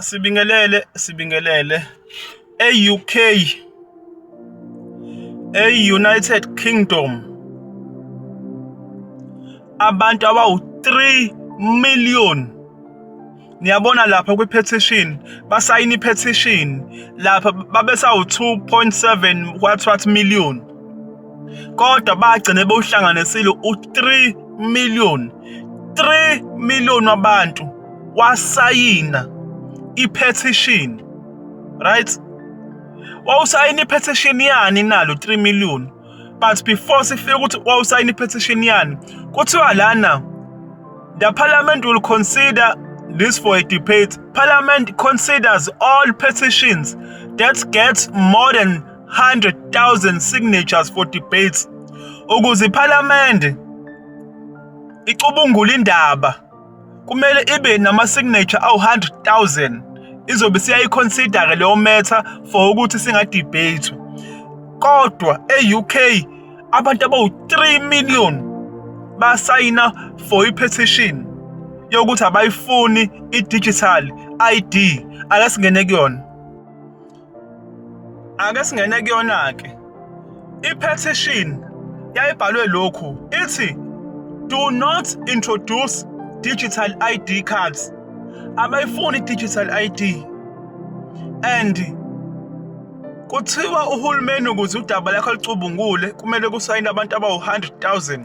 Sibingelele, sibingelele. E-U_K, e-United Kingdom abantu abawu-three million. Niyabona lapha kwi-petition, basayine i-petition lapha babesawu-two point seven what what million. kodwa bagcine bewuhlanganisile u-3 million 3 million wabantu wasayina i-petition right wawusayina i-petition yani nalo 3 million but before sifika ukuthi wawusayina i-petition yani kuthiwa lana the parliament will consider this for a debate parliament considers all petitions that get more than 100,000 signatures for debates ukuze iPhalamende icubungule indaba kumele ibe nama signature awu 100,000 izobe siyayiconsider ke leyo matter for ukuthi singa debate kodwa eUK abantu abawu 3 million basayina for ipetition yokuthi abayifuni idigital ID akasingene kuyona Ake singene kuyona-ke. I-petition yayibhalwe lokhu ithi do not introduce digital ID cards. Abayifuni digital ID. And kuthiwa uhulumeni ukuze udaba lakho lucubungule kumele kusayine abantu abawu-100,000.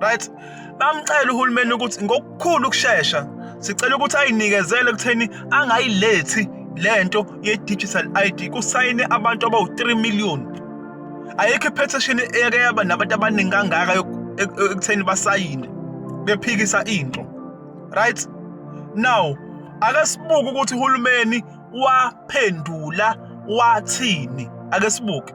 right bamcela uhulumeni ukuthi ngokukhulu ukushesha sicela ukuthi ayinikezele ekutheni angayilethi lento ye-digital ID kusayine abantu abawu-3 million ayikho i-petition eke yaba nabantu abaningi kangaka ekutheni basayine bephikisa into right now ake sibuke ukuthi uhulumeni waphendula wathini ake sibuke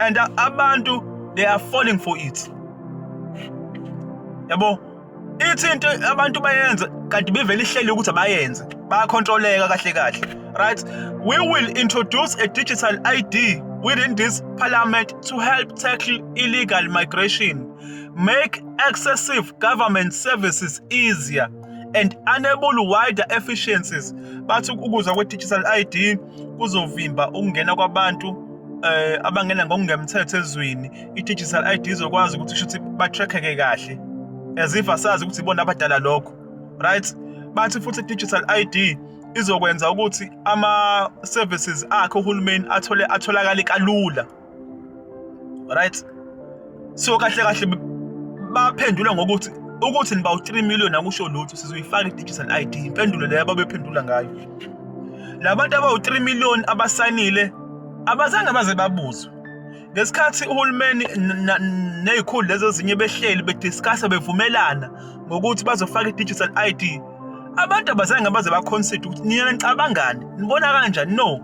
and abantu they are falling for it yabo ithi into abantu bayenza kanti bevele ihleli ukuthi abayenze bayakhontroleka kahle kahle right we will introduce a digital id within this parliament to help tackle illegal migration make excessive government services easier and enable wider efficiencies bathi ukuza kwe-digital id kuzovimba ukungena kwabantu eh abangena ngokungemthetho ezweni i-digital ID izokwazi ukuthi shuthi batrackeke kahle as if asazi ukuthi ibona abadala lokho right bathi futhi i-digital ID izokwenza ukuthi ama-services akhe uhulumeni athole atholakale kalula right so kahle kahle baphendula ngokuthi ukuthi niba u-3 million akusho lutho sizoyifaka i-digital ID impendulo leyo ababephendula ngayo labantu abawu-3 million abasayinile abazange baze babuzwe ngesikhathi uhulumeni nezikhulu lezi ezinye behleli bediscussa bevumelana ngokuthi bazofaka i-digital ID abantu abazange baze baconsider ukuthi nina nicabangani nibona kanjani no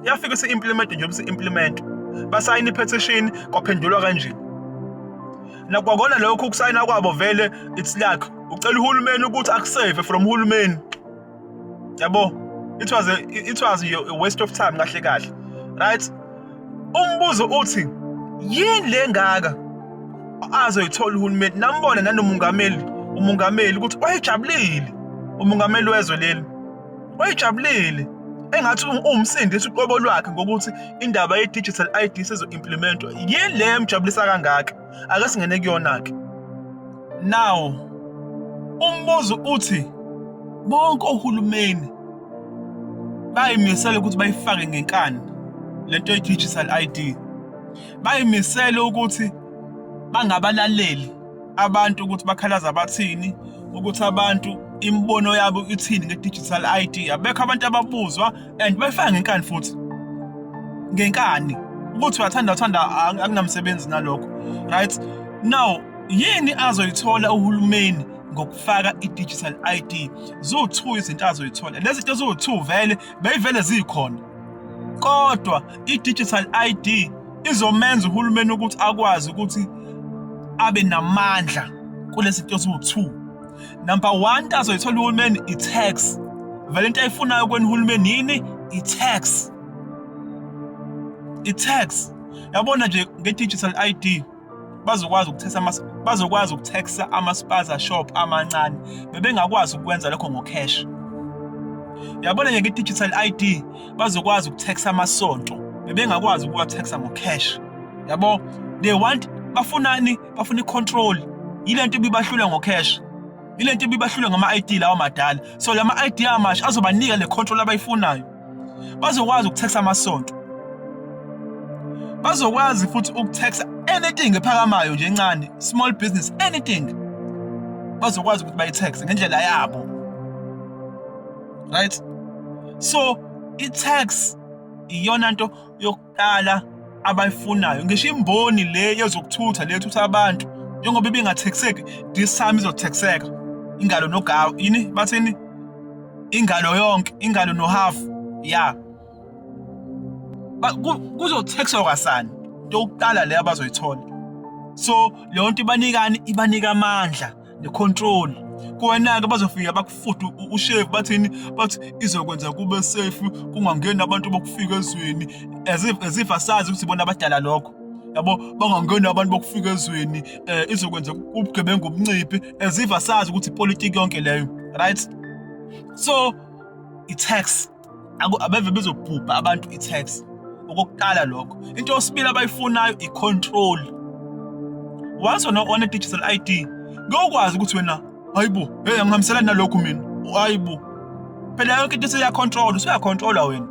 yafike se-implement nje bese-implement basayina i-petition kwaphendulwa kanje nakwakona lokho ukusayina kwabo vele it's luck ucela uhulumeni ukuthi akusave from uhulumeni yabo it was a, it was a waste of time kahle kahle right umbuzo uthi yini lengaka azoyithola uhulumeni nambona nanomungameli umungameli ukuthi wayejabulile umungameli wezwe leli Wayejabulile engathi uwumsindisi uqobo lwakhe ngokuthi indaba ye-digital ID sezo-implementwa. Yini le emjabulisa kangaka? Ake singene kuyona-ke. Now, umbuzo uthi bonke ohulumeni bayimisele ukuthi bayifake ngenkani le nto ye-digital ID. Bayimisele ukuthi bangabalaleli abantu ukuthi bakhalaza bathini ukuthi abantu imibono yabo ithini nge-digital ID abekho abantu ababuzwa and befaka ngenkani futhi ngenkani ukuthi uyathanda uthanda akunamsebenzi nalokho right now yini azoyithola uhulumeni ngokufaka i-digital ID zo-two izinto azoyithola lezi zinto zo-two vele beyivele zikhona Kodwa i-digital ID izomenza uhulumeni ukuthi akwazi ukuthi abe namandla kulesi zinto eziwu-two number one into azoyithola uhulumeni i-tax vele into ayifunayo kwena uhulumeni yini i-tax i-tax yabona nje nge-digital ID bazokwazi ukuthetha bazokwazi ukuthexa ama-spaza shop amancane bebengakwazi ukwenza lokho ngocash yabona nje nge-digital id bazokwazi ukuthexa amasonto bebengakwazi ukuwathexa ngocash yabo they want bafunani bafuna i-control yile nto ibibahlula ngocash yile nto ibibahlula ngama-id lawa madala so lama-id amasha azobanika le control abayifunayo bazokwazi ukuthexa amasonto bazokwazi futhi ukuthexa anything ephakamayo nje encane small business anything bazokwazi ukuthi bayithaxe ngendlela yabo right so i-tax iyona nto abadala abayifunayo ngisho imboni le yezokuthutha le thutha abantu njengoba ibingathekiseki this time izothekiseka ingalo nogawu yini bathini ingalo yonke ingalo nohafu ya kuzothekiswa kwasani into yokuqala le abazoyithola so leyo nto ibanikani ibanika amandla ne-control kuwena-ke bazofika bakufude ushevu bathini bathi izokwenza kube safe kungangeni abantu bokufika ezweni as if, as if asazi ukuthi bona abadala lokho yabo bangangeni abantu bokufika ezweni um izokwenza ubugebengu obunciphi as if asazi ukuthi ipolitiki yonke leyo right so i-tax abeve bezobhubha abantu i-tax okokuqala lokho into yosibili abayifunayo i-control once wena one digital ID ngokwazi ukuthi wena hayibo hey angihambiselani nalokhu mina hayibo phela yonke into seyacontrol usuyacontrola wena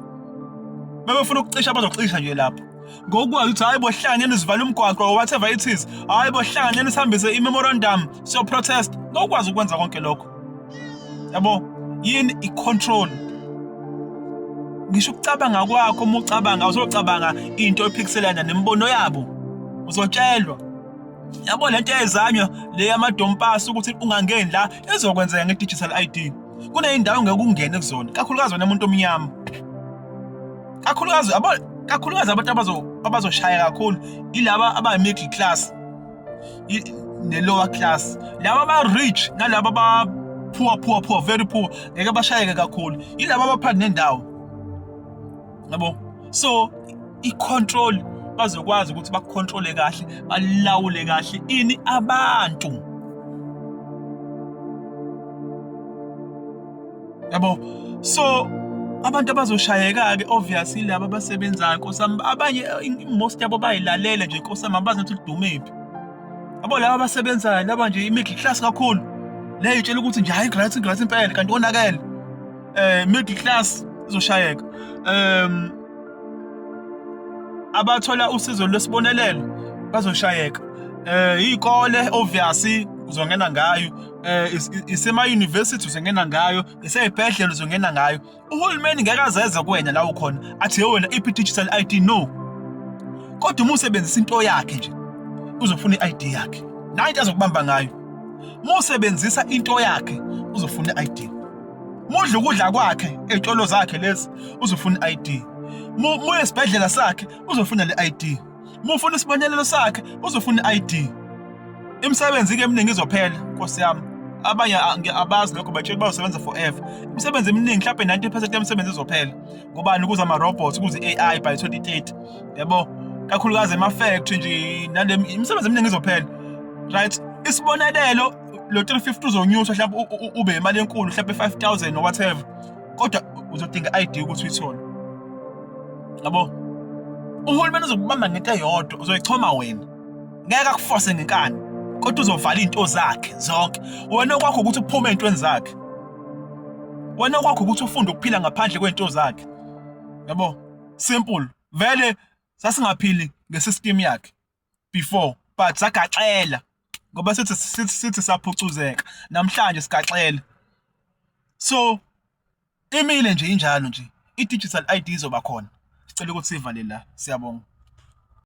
uma befuna ukucisha bazocisha nje lapho ngokwazi ukuthi hayi bohlangene sivale umgwaqo or whatever it is hayi bohlangene sihambise i-memorandum siyoprotest ngokwazi ukwenza konke lokho yabo yini i-control ngisho ukucabanga kwakho uma ucabanga uzocabanga into ephikiselana nemibono yabo uzotshelwa yabo lento eyezanywa le yamadompasi ukuthi ungangeni la ezokwenzeka nge-digital ID kuneyindawo ngeke ungene kuzona kakhulukazi wena muntu omnyama kakhulukazi kakhulukazi abantu abazoshaya kakhulu ilaba aba-middle class ne-lower class laba aba-rich nalaba aba-poor poor poor very poor ngeke bashayeke kakhulu ilaba abaphansi nendawo yabo so i-control bazokwazi ukuthi bakukhontrole kahle balawule kahle ini abantu yabo so abantu abazoshayeka-ke obvious ilaba abasebenzayo nkosami abanye most yabo bayilalela nje nkosami abazi ukuthi lidumephi abo laba abasebenzayo laba nje i-middle class kakhulu leyo itshela ukuthi nje hayi ngigrathi ngigrathi impela kanti konakele um middle class izoshayeka um abathola usizo lwesibonelelo bazoshayeka um iy'kole obvious uzongena ngayo eh isema university uzongena ngayo iseyibhedlela uzongena ngayo uhulumeni ngeke azeze kwena la ukhona athi he wena iphi digital ID no kodwa uma usebenzisa into yakhe nje uzofuna i-ID yakhe nayo into azokubamba ngayo uma usebenzisa into yakhe uzofuna i-ID mudla ukudla kwakhe ey'tolo zakhe lezi uzofuna i-ID muye esibhedlela sakhe uzofuna le-ID uma ufuna isibonelelo sakhe uzofuna i-id imisebenzi-ke eminingi izophela nkosi yami abanye abazi lokho batshela uba usebenza forever imisebenzi eminingi mhlawumbe 90 percent yemisebenzi izophela ngobani ukuze ama-robots ukuze i-ai by 2030 yabo kakhulukazi ema-factory nje nale imisebenzi eminingi izophela right isibonelelo lo 350 uzonyuswa mhlawumbe ube imali enkulu mhlawumbe 5000 or whatever kodwa uzodinga i-ID ukuthi uyithole yabo uhulumeni uzokubamba ngento eyodwa uzoyichoma wena ngeke akufose ngenkani kodwa uzovala izinto zakhe zonke wena kwakho ukuthi uphume ezintweni zakhe wena kwakho ukuthi ufunde ukuphila ngaphandle kwezinto zakhe yabo simple vele sasingaphili ngesystem yakhe before but sagaxela ngoba sithi sithi sithi saphucuzeka namhlanje sigaxela so imile nje injalo nje i-digital ID izoba khona sicela ukuthi sivale la siyabonga